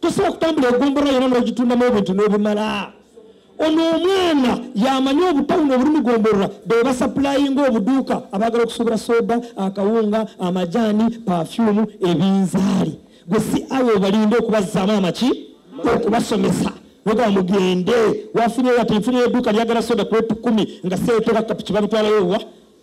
tosobola okutambula egombolola yona nogitundamu ebintu nobimala ono omwana yamanyi obutawuno obuli mugombolola bebasapulayinga obuduuka abagala okusuubula soda akawunga amajaani pafyumu ebinzaali gwe si awo obalinde okubazaamu amaki okubasomesa oga mugende wafunye wati nfunye eduuka lyagala soda kwetukumi nga seetoka kapiki babitwalayo wa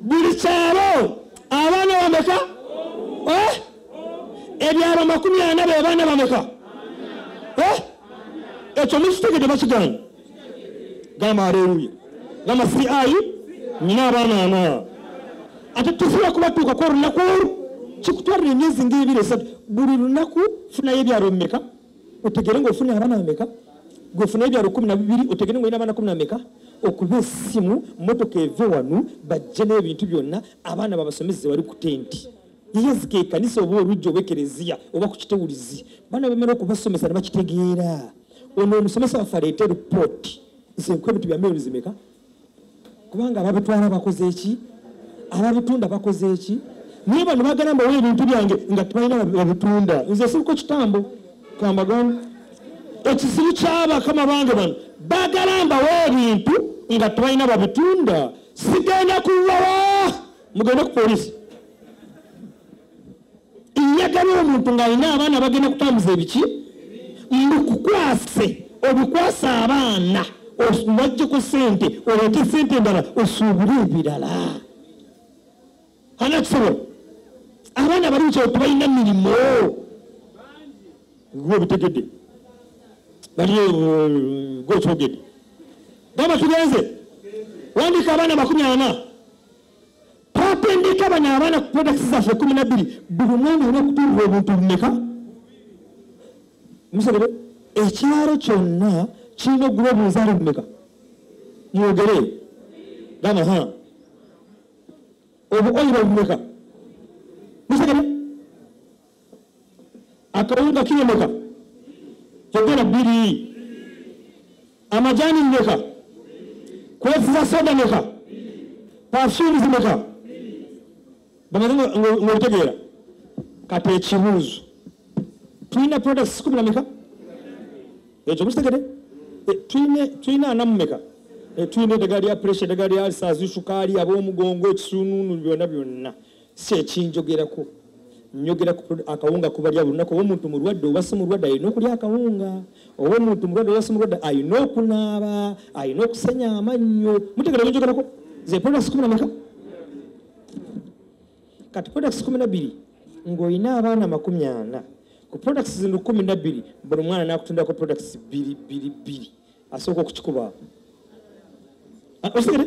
buli kyalo abaana bameka eh? ebyalo makumi ana bebaana bameka eh? ekyo mukitegede bakigana gamba aleluya gamba si ayi nyina abaana ana ate tusobola kubatuukako olunaku olwo kikutwalira emyezi ngaebiri esatu buli lunaku funayo ebyalo mumeka otegere nga ofuna abana ameka gwefuna ebyalo kumi nabibiri otegere nga olina abana kumi nameka okuba esimu motoka eve wanu bajje n'ebintu byonna abaana babasomese zewali ku tenti yeyazika ekanisa oba olujja oba ekereziya oba ku kitewulizi baana bamala okubasomesa nebakitegeera ono omusomesa waffe aleete ripooti nze nkuba ebintu bya meyoni zimeka kubanga ababitwala bakoze eki ababitunda bakoze eki naye bano bagala mbawo ebintu byange nga tebalina babitunda nze siriko kitambo kambagana ekizibu kyabakama bange bano bagala mbawo ebintu nga tebalina babitunda sigenda kuwawa mugende ku polisi njagala omuntu ng'alina abaana bagenda kutambuza ebiki mbukukwase obikwasa abaana wajjeko sente oleete sente endala osuubire ebirala ana kisobola abaana bali kyo tebalina mirimu gwe obitegedde bali eh, gwe okyogedde gamba tugenze wandika abaana makumi ana twatendeka bano abaana ku prodakisi zaffe kumi nabbiri buli mwana olina okutundira obuntu bumeka musabire ekyalo kyonna kirina okuguba obunzaalo bumeka mwogere gamba ha obuoyiro bumeka musabire akawunga kilo meka kyogera bbiri amajani meka kwefuza soda meka pafyumu zimeka bamaze ngaobitegeera kati ekibuuzo tulina products kumi na meka ekyo mukitegede eh, tulina anamu meka eh, tulina eddagala lya pressure eddagala lya alsas sukaali ab'omugongo ekisununu byonna byonna si ekinjogerako njogera akawunga kubalya buli lunaku oba omuntu mulwadde oba si mulwadde alina okulya akawunga oba omuntu mulwadde oba si mulwadde alina okunaaba alina okusenya amannyo mutegera byenjogerako ze products kumi nameka kati products kumi nabbiri ng'olina abaana amakumi ana ku products zino kumi nabbiri buli mwana nakutundako products bbiri bbiri bbiri asooka okukikubaako ah, osigere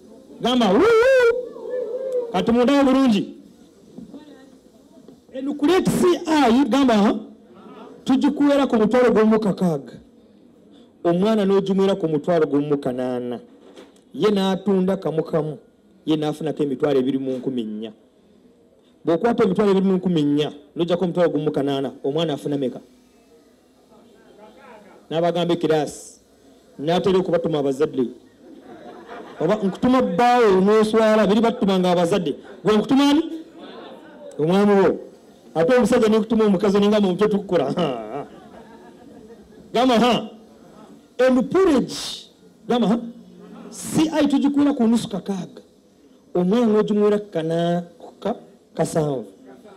gamba katumundawo bulungi enukuletisi ayi gamba tugikuwera ku mutwalo gwomu kakaaga omwana n'ogimwera ku mutwalo gwomu kanaana ye n'atunda kamukamu ye n'afunako emitwalo ebiri mu nkumi nnya bw'okwata emitwalo ebiri mu nkumi nnya n'ojjako omutwalo gwomu kanaana omwana afuna meka n'abagamba ekiraasi n'atera okubatuma abazadde oba nkutuma bbaawo n'oswala biri batuma nga abazadde gwe nkutuma ani omwami wo ate omusajja nekutuma omukazi ninga mumutwe tukukola gamba ha emupurage gamba ha si ayi tugikuula ku nusu kakaaga omwana nojumuwera kana ka, kasanvu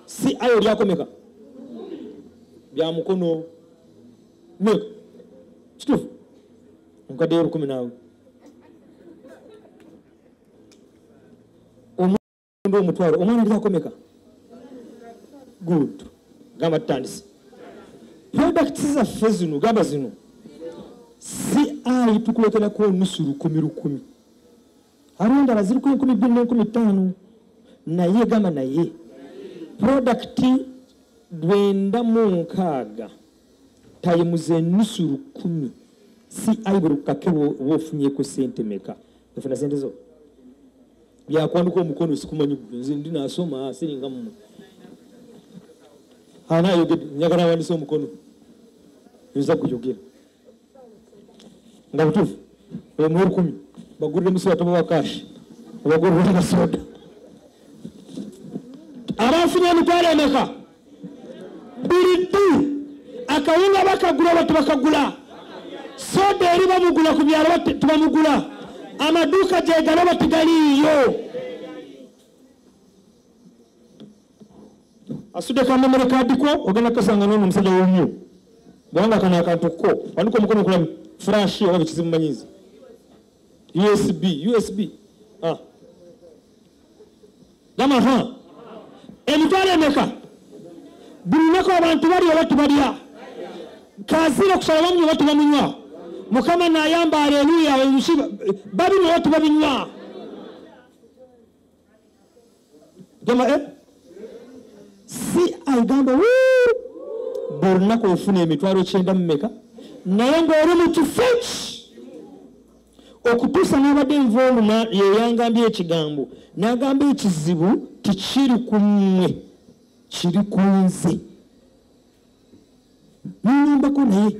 si ayo lyakomeka bya mukono meka kitufu nkadde olukumi naawe omuntu omutwalo omwana lyakomeka good gamba tutandise product zaffe zino gamba zino si ayi tukuleterako onusu lukumi lukumi abo endala ziri ku enkumi bbiri n'enkumi ttaano naye gamba naye prodakiti lwenda mu nkaaga tayimuza enusu lukumi si ayi buli kukake oba ofunyeko sente meka ofuna sente zo byakwandika omukono sikumanyi nze ndi nasoma siringa mumwe anayogedde njagala awandisa omukono nza kuyogera nga butuufu omuwa olukumi bagulire musoda tobawa kashi obagulire nasoda abafunye emitwalo emeka buli ddu akawunga bakagula oba tebakagula soda eri bamugula ku byalo oba te- tebamugula amaduuka gyegala oba tegaliiyo asude kwa memory card ko ogenda kasanga nono musajja wumyo bwanga kana akantu ko wanduko mukono kula flash oba bikizimu manyizi usb usb ah gama ha emitwale meka bulinako abantu bali oba tubalya kazira okusala bamunywa oba tubamunywa mukama nayamba aleluya babinywa oba tubabinywa gema eh? si aigamba buli lunaku ofuna emitwalo kyenda mumeka naye ngaoli mu kifo eki okutuusa nabadde nva oluna yeyangambye ekigambo nagamba ekizibu tikiri ku mmwe kiri ku nze nyombako naye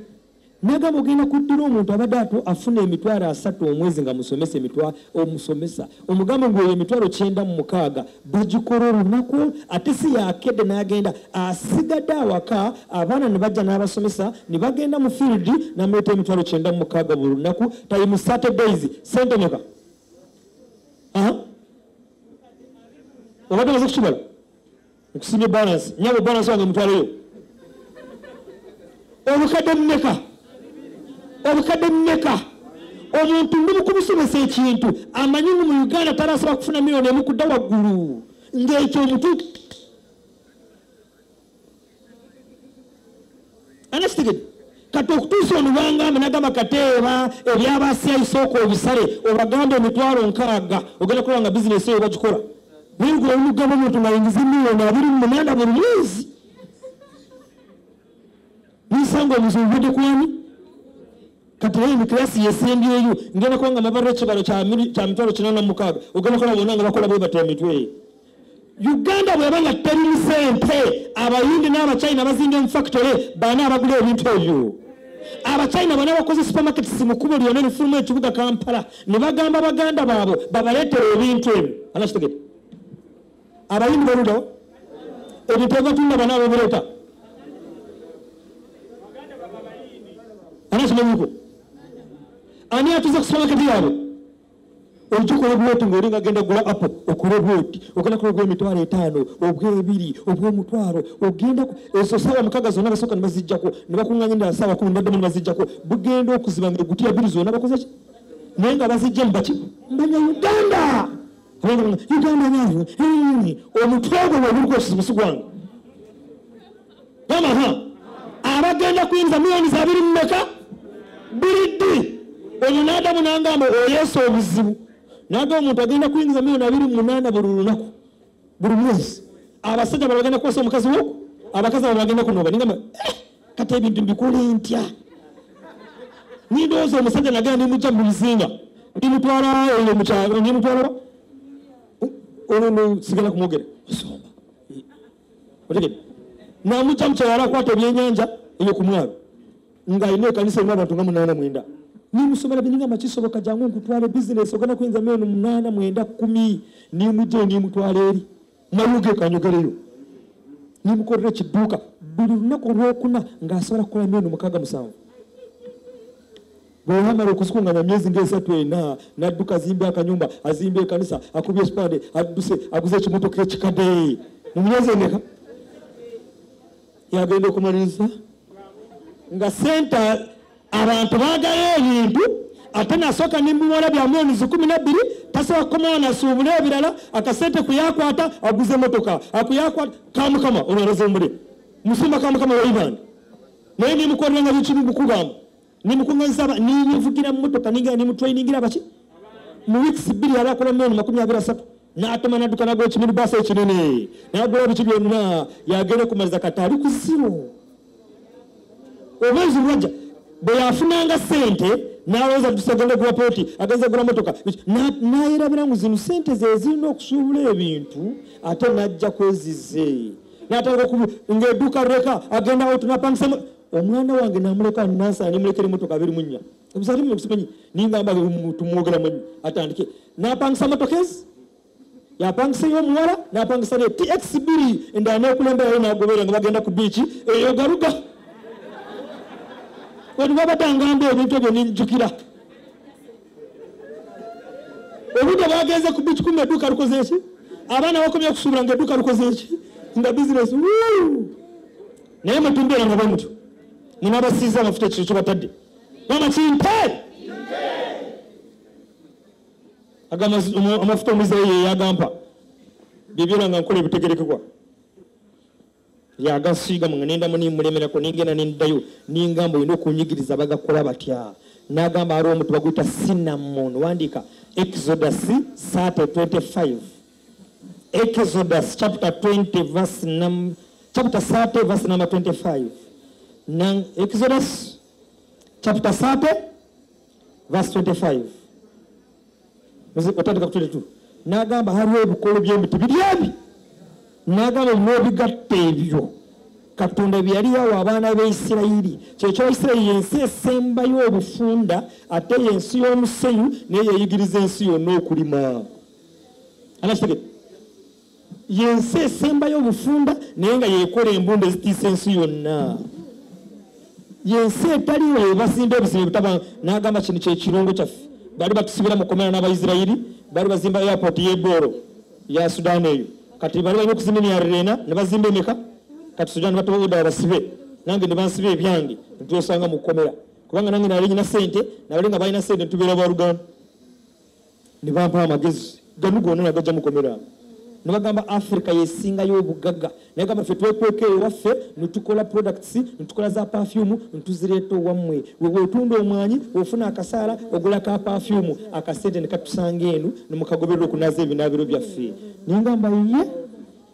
nagamba ogenda kuddira omuntu abadde ato afuna emitwalo asatu omwezi nga musomesa emitwa omusomesa omugamba ngu eyo emitwalo kyenda mu mukaaga bagikola olunaku ate si yakedde nagenda asigadde awaka abaana ne bajja n'abasomesa ne bagenda mu field namuleeta emitwalo kyenda mu mukaaga buli lunaku tayi mu saturdays sente meka obadde maze kukibala nkusimye balance nyabo balance wange mutwaleyo obukadde mumeka obukadde mumeka omuntu ndi mukumusomesa ekintu amanyi ngu mu uganda tarasobola kufuna miliyoni emu kudda waggulu ng'ekyo omutu anakitegede kati okutuusa onubangambe nagamba kateeba ebyabasyayisooka obisale obagamba emitwalo nkaaga ogenda kukola nga bizinesi eyo bagikola bengula omugabo omuntu nga yingiza emiliyoni abiri mu munanda buli mwezi nisanga omuzungu budde kwani kati naye mukirasi yesembyeyo ngenda kuba nga mabarira ekibalo kya mitwalo kinana mukaaga ogenda kola bona nga bakola bwe batya emitwe uganda bweba nga terimu sente abayindi n'abachina bazinga emufactory baana abagula ebintu ebyo abachina bana bakoze supermarket simukubo lyona lifulumu ekibuga kampala ne bagamba baganda baabo babaleetera ebintu ebyo anakitegete abayindi baluda ebintu ebibatunda bana ababireeta anakimanyiku ani atuze ku supermarket yaabwe ogikola bwoti ngaoli nga genda gula apo okole bwoti ogenda kola obwemitwalo etaano obwebiri obwomutwalo ogenda ezo saawa mukaga zonna basooka ne bazijjako ne bakunganya endala saawa kumi baddemu ne bazijjako bugenda okuziba nga egutiya biri zonna bakoze ki naye nga bazijja mubaki mbanya uganda uganda naayo omutwe ogwo webuliko okizibu sigwange amaha abagenda kuyinza muyoni zabiri mumeka buli ddi oyo nadamu nangamba oyesa obuzibu naga omuntu agenda kuyingiza muyoni abiri mumunana buli lunaku buli mwezi abasajja balagenda kukosa omukazi wo abakazi abo bagenda kunoba nigamba eh, kati ebintu mbikole ntya nindowooza omusajja nagenda nimujja mubizinga nimutwala oyo mukyalo nimutwala olwo sigala kumwogera osomba otegede namujja mukyalala akwata ebyenyanja eyo ku mwalo nga alina ekanisa erimu abantu nga munaana mwenda nimusomera bininga makisoboka jangu nkutwale bizinesi ogenda kuyinza meno munaana mwenda kumi nimujja nimutwala eri mayuge kanyogereyo nimukolera ekiduuka buli lunaku olwokuna ngaasobola kukola meno mukaaga musanvu bwe yamala okuzikunganya myezi ng'esatu ena n'adduka azimba akanyumba azimba ekanisa akubye ekipande adduse aguze ekimotoka ekikade mu myezi emeka yagenda okumaliriza nga sente abantu baagala ebintu ate nasooka nembiwala bya milioni zikumi nabbiri tasobola kukomawo nasuubula ebirala akasente kuyakwata aguze emotoka akuyakwata kamukama olwalaza omule musumba kamukama waibanda naye nemukolera nga bikiri bukugamba nemukuŋanyisa aba nenevugira mumotoka nengera nemutrainingira abaki mu weeks bbiri yali akola milioni makumi abiri asatu n'atuma n'adduka nagula ekimini baasa ekinene n'agula biki byonna yagenda okumaliza kati ali ku ziro omwezi lwajja bwe yafunanga ssente n'alowooza nti tusagenda ogula pooti agenza ogula motoka n'ayerabira ngu zino ssente ze zirina okusuubula ebintu ate n'ajja kwezize n'atandika ng'edduuka leka agendawo tunapangisemu omwana wange namuleka nasa nemulekera emotoka abiri munya ebisali mu simanyi ningamba tumwogera manyi atandike napangisa motoka ezi yapangisa ey'omuwala napangisa ne tx biri endala n'okulemberayo nagobeera nga bagenda ku biiki eyo galuga wetubabadangamba ebintu ebyo ninjukira obudde bwagenze ku bici kuma edduuka lukoze eki abaana bakomye okusuubula nga edduuka lukoze eki nga bizinesi naye mutumbeera nga bwemutyo munabasiiza amafuta ekiro kyobatadde mama kimpe amafuta omuzeeyi yeyagampa byebyona nga nkola ebitegerekebwa yagasiiga nga nendamu nemulemerako nengenda nendayo nengamba olina okunyigiriza bagakola batya nagamba aliwo omuti baguyita sinamon wandiika exodus sate 25 exodus chapter 20 verse num, chapter sate verse number 25 Nan, exodus chapter sate verse 25 otandika ku 22 n'agamba haliwo ebikolo by'emiti biri ebi n'agamba ebinobigatta ebyo katonda bye yali yawa abaana b'eisirayiri kyekyo isirayiri yensi esembayo obufunda ate yensi y'omusenyu naye yeyigiriza ensi yonna okulima anakitege yensi esembayo obufunda naye nga yekola embunda ezitiisa ensi yonna yensi etaliwo yebasimba ebizibu ebitaba nagamba kino kyekirungo kyaffe bali batusibira mukomera n'abaisirairi bali bazimba airport yedooro ya sudan eyo kati bali balina okuzimba emyariro ena nebazimba emeka kati sudan batoda abasibe nange nebansiba ebyange ntwesanga mukomera kubanga nange nali nyina sente nabali nga balina sente ntubeera baluganda ne bampa amagezi ganu gonna nagajja mukomera ne bagamba africa yesingayo obugaga naye gamba ffe twekweka ewaffe netukola products netukola za perfume netuzireeta owammwe wewetunda omwanyi ofuna akasaala ogula ka perfume akasente nekatusanga enu nemukagoberera okunaza ebinaabiro byaffe naye ngamba ye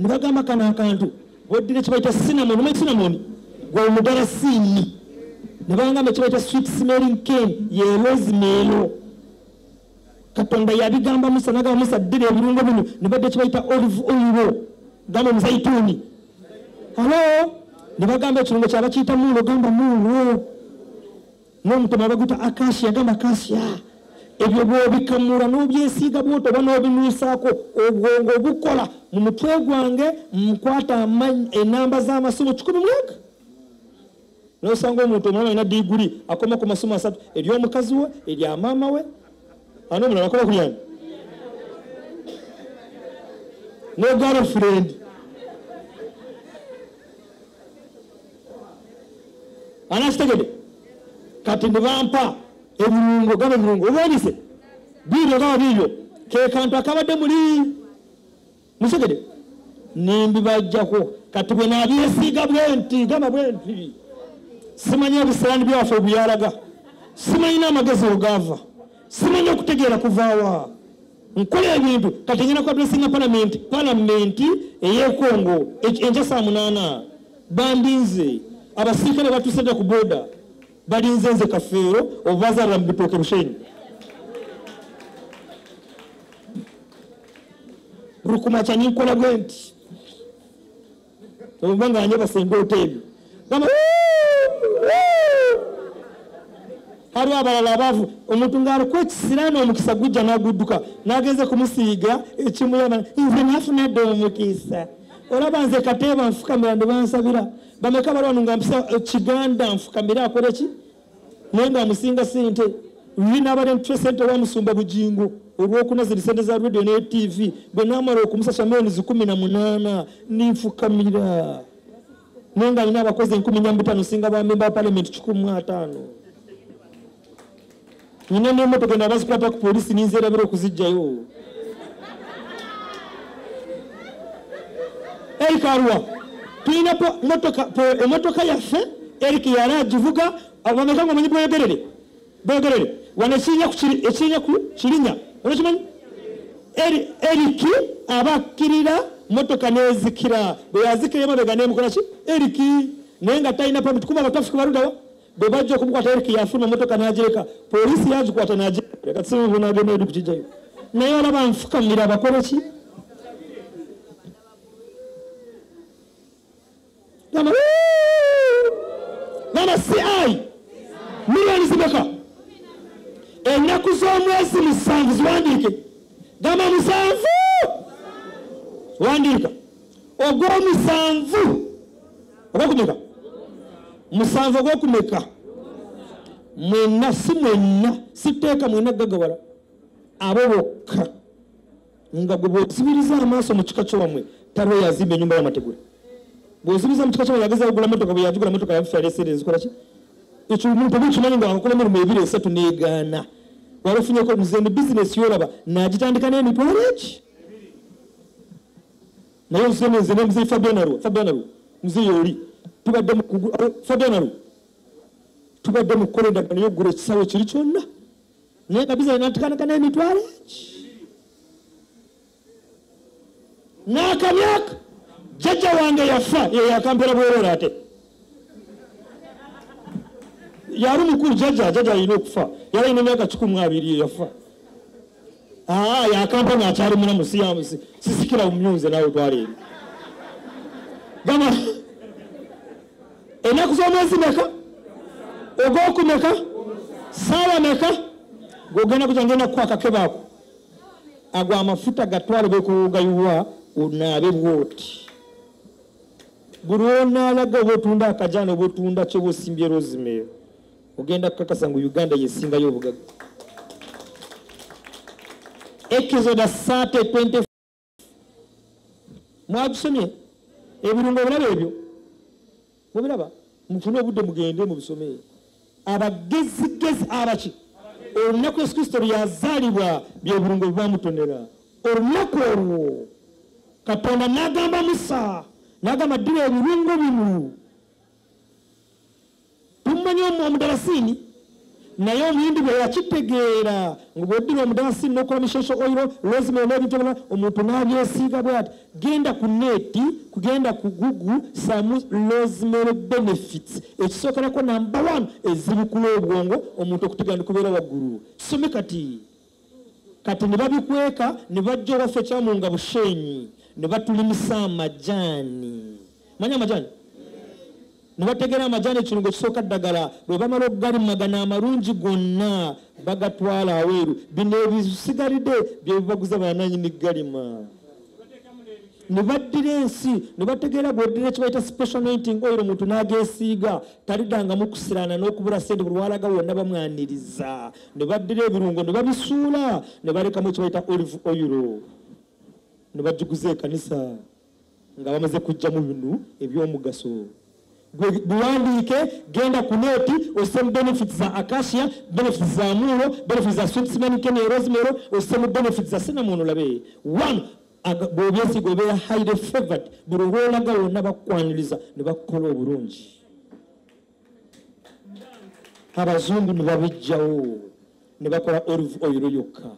nebagamba kano akantu weddira kibaita sinamon omanyi sinamoni gwe omudala siini nebagamba kibaita sweet smelling ken ye rosemelo katonda yabigamba musa nagamba musa ddira ebirungo bino nebadde kibaita olive oilo gamba omuzaituuni alo nebagamba ekirungo kyabakiyita mulo gamba mulo n'omutima abaguta akasi yagamba kasiya ebyo bwobikamula n'obyesiiga bwoto oba n'obinuusaako obwongo obukola mu mutwe gwange nkwata enamba z'amasomo kikumi mwaka nosanga omuntu omulama alina diguli akoma ku masomo asatu ery'omukazi we erya maama we ani omulala akola kulyani ne girlfriend anakitegede kati nebampa ebirungo gaba ebirungo obonise biibyo gaba biibyo kekantu akabadde muli musegede nimbibajjako kati bwe nabyesiiga bwenti gaba bwenti simanyi ebisirani byaffe obuyalaga simanyi n'amagezi ogaava simanyi okutegeera kuvaawa nkola ebintu kati ngenda ku adressinga palamenti palamenti eyekongo enkya saa munaana bandinze abasirikale batuuse dda ku boda balinze nze kafeero obubazaalira mu bitooke bushenyi rukumaca ninkola bwe nti oba nga anyebasa endoota ebyo gamba hariho abalala abavu omuntu ng'aliko ekisiraani omukisa gujja n'agudduka n'agenze kumusiiga ekimuyana nze nafunadde omukisa olaba nze kateeba nfukamira ne bansabira bameka balwanu nga mpisa eh, kiganda nfukamire akole ki naye nga amusinga sente luli n'abadde mutwe sente wa musumba bugingo olwokuna ziri sente za radio ne tv bwe naamala okumusasa milioni zikumi na munaana ninfukamira naye nga alina abakozi enkumi nya mubitaano singa bamemba palamenti kikumi mu ataano nyina n'emotoka eno abazikwata ku polisi ninzerabira okuzijjayo eric aruwa tulina emotoka yaffe eric yali agivuga abameka nga omanyi bweyogerere bweyogerere wano ekinya ku kirinya onakimanyi eric aba akkirira motoka nezikira bweyazikira emabega nemukolaki eric naye nga talina pamit kuba abatafika baludawa bwe bajja okumukwata eric yafuna motoka nagireka poliisi yagikwata nagireka sibibu nagenda edi kukijayo naye olaba nfukamira abakole ki gamba ci miliyoni zimeka ennaku z'omwezi musanvu ziwandiike gamba musanvu wandiika ogw'omusanvu oba kumeka musanvu oba okumeka mwenna si mwenna sitteeka mwenna gagawala abo bokka nga gwe bwosibiriza amaaso mu kika kyowamwe taliwo yazimba enyumba yamategula bwosibiriza mu kika kyowamwe yageza kugula motoka bwe yagigula motoka yafusa yalesere nzikola ki ekyo omuntu oba okimanyi nga wakola emirimu ebiri esatu negaana waba ofunyeko nze ne bizinesi yolaba nagitandika n'emitwalo eki naye nsema nze ne mzee fabiana lwa fabiana lwa mzee yoli tubadde mu kugu eh, fabiana lwa tubadde mu kukola endagaano y'okugula ekisaawe kiri kyonna naye kabiza natikanakana emitwalo eki n'akamyaka jjajja wange yafa eyo yakampera bwerora ate yali mukulu jaja jaja alina okufa yali alina emyaka kikumi abiri eyafa ah, yakampa nga akyali mulamu sisikira mumyunze nawe twaleeri gamba enaku z'omwezi meka ogwoku meka saawa meka gwogenda kuja ngenda kukuwa akakebaako ago amafuta gatwale bekuwuga yuwa onaabe bwoti buli lwonaalaga oba otunda akajana oba otunda kyoba osimbye rosemary ogenda kukakasa ngu uganda yesingayo obugaga ekizoda sate 20 mwagisomye ebirungo obulaba ebyo mubiraba mufune obudde mugende mubisomee abagezigezi abaki olunaku yesu kristo lyazaalibwa byebulungo bwebamutonera olunaku olwo katonda nagamba musa nagamba ddira ebirungo bino tumanyi omudalasini naye omuyindi bwe yakitegeera nga bweddira omudalasini nokola mishosho oiro lozima olwebintu ebirala omuntu nabyesiiga bwati Genda ku neeti, kugenda ku Google samu rosemary benefits ekisookerako namba one ezibikula obwongo omuntu okutegera ndikubeera waggulu some kati kati ne babikweka ne bajja owaffe kyamu nga bushenyi ne batulimisa amajaani. manya amajani nebategera amajani ekirungo kisooka ddagala bwebamala okugalimagana amalungi gonna bagatwala aweeru bino ebisigalidde byebibaguza bananyini galima nebaddira ensi nebategeera gweddira ekibaita special ninting oil omuntu nagesiiga talidangamu kusirana nokubula sente buli walaga wonna bamwaniriza nebaddira ebirungo nebabisuula nebalekamu ekibaita olive oil nebagiguza ekanisa nga bamaze kujjamu bino ebyomugaso gwe biwandiike genda ku neeti osemu benefit za acacia benefit za muuro benefit za sweetsmankene rosemero osemu benefit za sinamon olabe one bwobyesiga obeera highly favored buli olwolaga wonna bakwaniriza ne bakukola obulungi abazungu ne babijjawo ne bakola olive oil yokka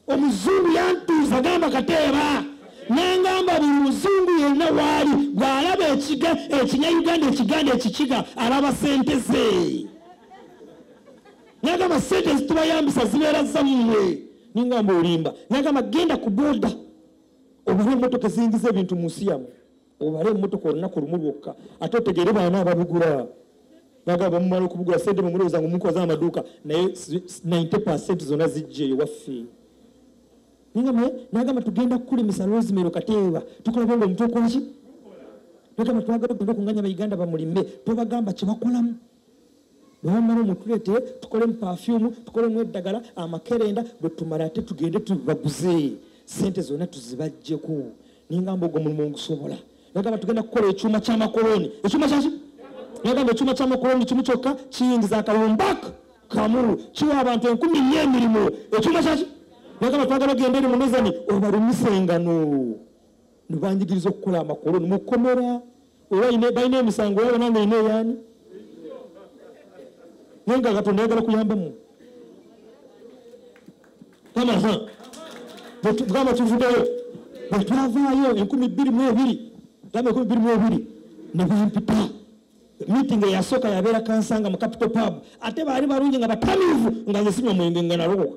omuzungu yantuuza gamba kateeba nangamba buli muzungu yenna waali gwalaba ekiga ekinyayuganda ekiganda ekikiga alaba sente ze nagamba sente zitubayambisa zibeera zammwe ningamba olimba nagamba genda ku boda obula emotoka ezingiza ebintu mu nsi yamwe obale emmotoka olunaku lumu lwokka ate otegeere baana ababigula naga bamumala okubugula sente mumulowooza nga omukoze amaduuka naye 90 percent zona zijja eyo waffe nagamba nagamba tugenda kukulemesa rosemero kateeba tukulabe nga omuntu okwaki nagamba twagala ogenda okunganya bauganda bamulime tobagamba kyebakolamu bwamala mutulete tukole mu pafyumu tukole mu eddagala amakerenda bwe tumala ate tugende tubaguze sente zonna tuzibajjeko ningamba ogwo mulimu ogusobola nagamba tugenda kukola ekyuma kyamakoloni ekyuma kyaki nagamba ekyuma kyamakoloni kimu kyokka kiyingiza akawumbak kamu kiwa abantu enkumi nyo emirimu ekyuma kyaki nagamba twagala ogenda eri mumezani obalumisengano nibanjigiriza okukola amakoloni mukomera oba balina emisango yabo nange ina eyaani naye nga katonda ayagala kuyamba mu kama ha bwetugamba tuvudeyo bwetwavaayo enkumi bbiri mu ebiri gamba enkumi bbiri mu ebiri nebampipa meeting eyasooka yabeera kansanga mu capital pub ate baali balungi nga batamiivu nga nze sinywa mwenge nga nalokoka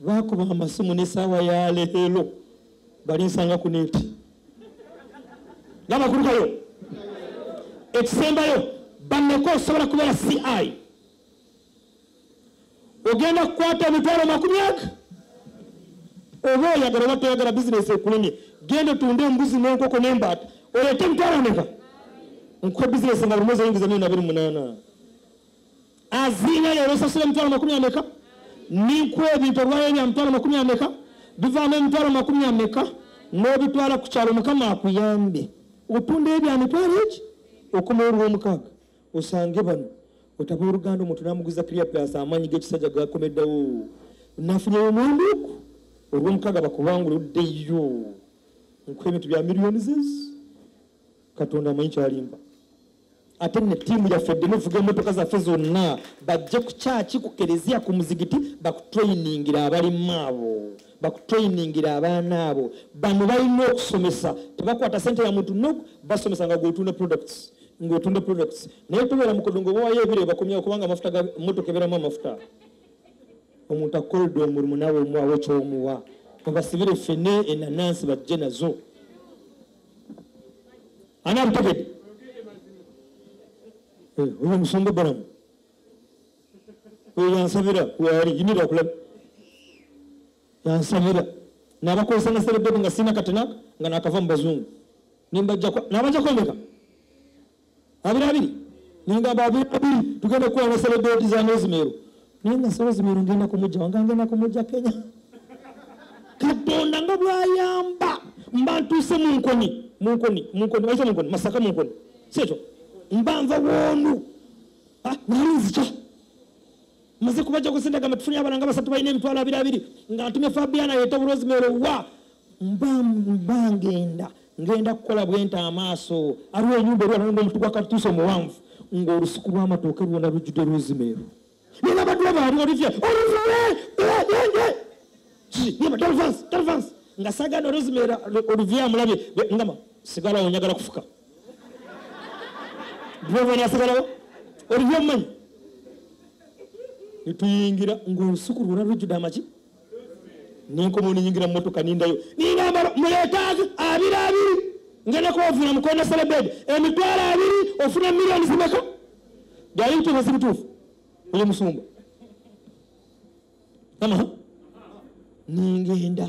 bakuba amasimu nesaawa ya leero balinsanga ku neti ngamakulu kayo ekisembayo banneko osobola kubeera ci ogenda kukwata emitwalo makumi aga oba oyagala oba toyagala bizinesi ekulemye genda otunde embuzi nenkoko nembaata oleete emitwalo meka nkuwa bizinesi nga buli mwezi oyingiza milioni abiri munaana aziina leero osasula emitwalo makumi ameka ninkuwa ebintu olwayo bya mitwalo makumi ameka bivaamu emitwalo makumi ameka n'obitwala ku kyalo mukama akuyambe otunda ebya mitwalo eki okumulwa omukaaga osange bano otaba oluganda omuntu namuguza clear plus amaanyi g'ekisajja gakomeddawo nafunye omwanduku olw'omukaaga bakubangula oddeyo nkuwa ebintu bya miliyoni zezi katonda amanyi kyalimba ate ne ttiimu yaffe ddemu evuga emmotoka zaffe zonna bajje ku kyaki ku kereziya ku muzigiti bakutrayiningira abalimu abo bakutrayiningira abaana abo bano balina okusomesa tebakwata sente ya muntu nok basomesa nga gwotunda products ng'otunda products naye tobeera mukodo ngaobawayo ebire bakomyawo kubanga amafuta ga mmotoka ebeeramu amafuta omuntu akolde omulimu nawe omuwawo kyomuwa obasibire fene enanansi bajje nazo ani abutegedde eh, oyo musumba balamu oyo yansabira waali inira okulaba yansabira nabakozesa naserebebe nga sina katenaka nga nakava mu bazungu nimbajjako nabajja kwemeka abiri abiri ningamba abiri abiri tugenda kukola naserebeti za nozimeero naye nga sebo zimiro ngenda kumujja wanga ngenda kumujja kenya katonda nga bwayamba mba ntuuse munkoni munkoni munkoni waite munkoni masaka munkoni siekyo mba nva woonu ah, nali nzija maze kubajja kusente gamba tufunye abalanga basatu balina emitwalo abiri abiri nga ntumye fabiana yete oburozi mero wa mba mba ngenda ngenda kukola bwenta amaaso aliwo enyumba eri alonda omutu gwa katuusa omuwanvu ng'olusuku lw'amatooke lwona lujjudde rozimeero naye nabadde baali olivye oluvule enge yeba dolvans dolvans nga sagana rozimeero oluvye amulabye ngama sigalawo njagala kufuka bwobona asigalawo oluvye omumanyi netuyingira ng'olusuku lwona lujjudde amaki nenkomawo nenyingira mumotoka nindayo ninambala muletaazi abiri abiri nga nekwovula mukonda selebedi emitwalo abiri ofuna miliyoni zimeka byali bituufu si bituufu oyo musumba ama ningenda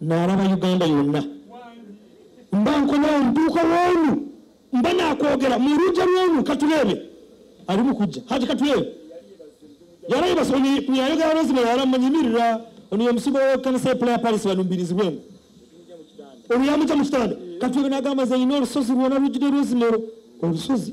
nalaba uganda yonna mba nkoma omuduuka w'omu mba nakwogera mu lujja lw'omu katuleebe ali mu kujja hati katuleebe yarayibasa yayogera lwazima yaramanyimirira ono yomusigo w'ekkanisa y'epula ya palisi balumbirizibwemu oluyamukya mu kitanda katuleebe n'agamba nze yina olusozi lwona lujjudde lwezimero olusozi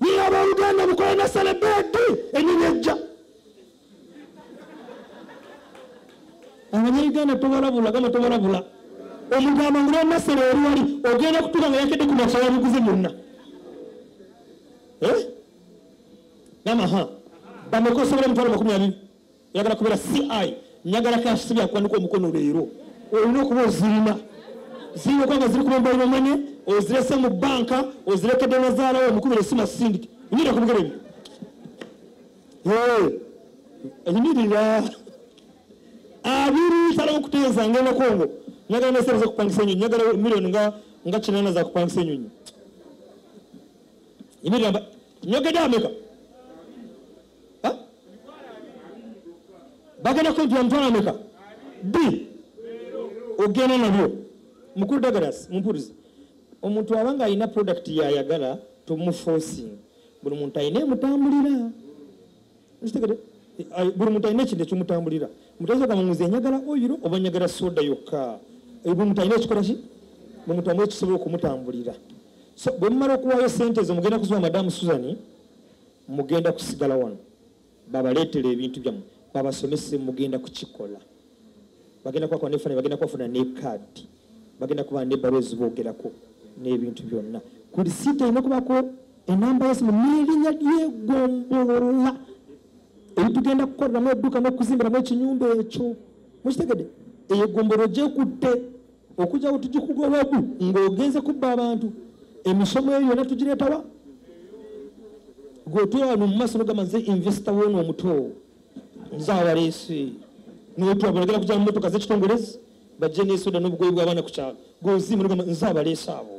Naye abooluganda mukole ne selebeeti ennimi ejja. Abanyayuganda tubalabula gamba tubalabula. Omuntu amangula nasala eri wali ogenda kutuuka nga yakedde ku masoya biguzi munna. Eh? Gamba ha. Bameka osobola emitwalo makumi abiri. oyagala kubeera ci nyagala cash sibya kwanika omukono leero olina okuba ozirina zirina okuba nga ziri kumumbairo mane ozirese mu banka ozirekedde nazaalawo omukubira esima sindike nyira kubigeremu enyimirira abiri salawo okuteeza ngenda kongo nyagala nesereza okupangisa enyonyi nyagala million nga nga kinana za kupangisa enyonyi yimirira nyogedde ameka bagenda kwejula mitwalo ameka b ogenda nabyo mukulu dagalas mumpuriza omuntu aba nga alina product yayagala tomuforcing buli muntu alina emutambulira kitegede eh, buli muntu alina ekintu ekimutambulira mutayinza muzi enyagala oyiro oba nyagala soda yokka eh, buli muntu alina ekikola ki buli muntu amu ekisobola okumutambulira so bwe mumala okuwaayo sente ezo mugenda kuziwa madamu suzani mugenda kusigala wano babaleetera ebintu byammwe babasomese mugenda kukikola bagenda kubakola nefananyi bagenda kubafuna ne kaadi bagenda kuba nebbaluwa eziboogerako n'ebintu byonna ku lisiiti erina kubako enamba yesimu n'erinnya lyegombolola ebitugenda kukoleramu edduka n'okuzimbiramu ekinyumba ekyo mukitegede eyo egombolola gyekutte okujja wetugikuga owagu ng'ogenze kubba abantu emisomo eyo yona tugireetawa gwetwewano mu maaso nogamba nze investor wona omuto nze awaleese notwabalagala kuja mu motoka zekitongolezi bajje nesoda n'obugoyi bw'abaana ku kyalo gweozimu nogamba nze abaleese abo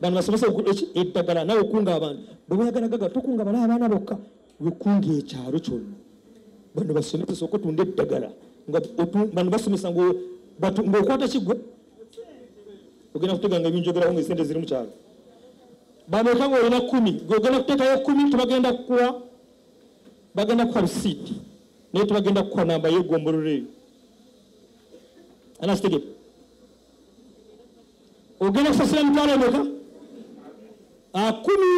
bano basomesa eddagala nawe okunga abantu bwe boyagala gaga tokunga bala abaana bokka lukungi ekyalo kyonna bano basomesa soka otunda eddagala bano basomesa ngaokwata kigwe ogenda kutega nga ebinjogeraho nga esente ziri mukyalo bameka nga olina kumi gogenda kutekayo kumi tebagenda kukuwa bagenda kukuwa risiiti naye tebagenda kukuwa namba yegombolola eyo anakitegeka ogenda kusasira mitwalo emeka akumi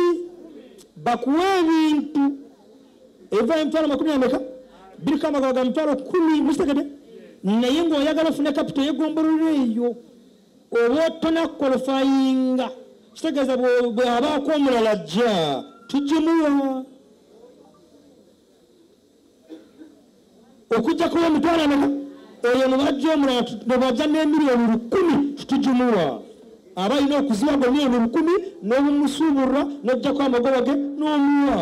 bakuwa ebintu ebiva emitwalo makumi ameka biriko amagaba ga mitwalo kumi musitegede naye ngaoyagala ofune kapito yegombolola eyo oba otona kolofayinga kitegeeza bweabaako omulala jja tugimuwa okujja kuwa emitwalo ameka oyo nubajja omulala nebajja n'emiliyoni lukumi tujumuwa aba alina okuziwa gwe miliyoni lukumi n'obumusuubulwa n'ojjako amagoba ge n'omuwa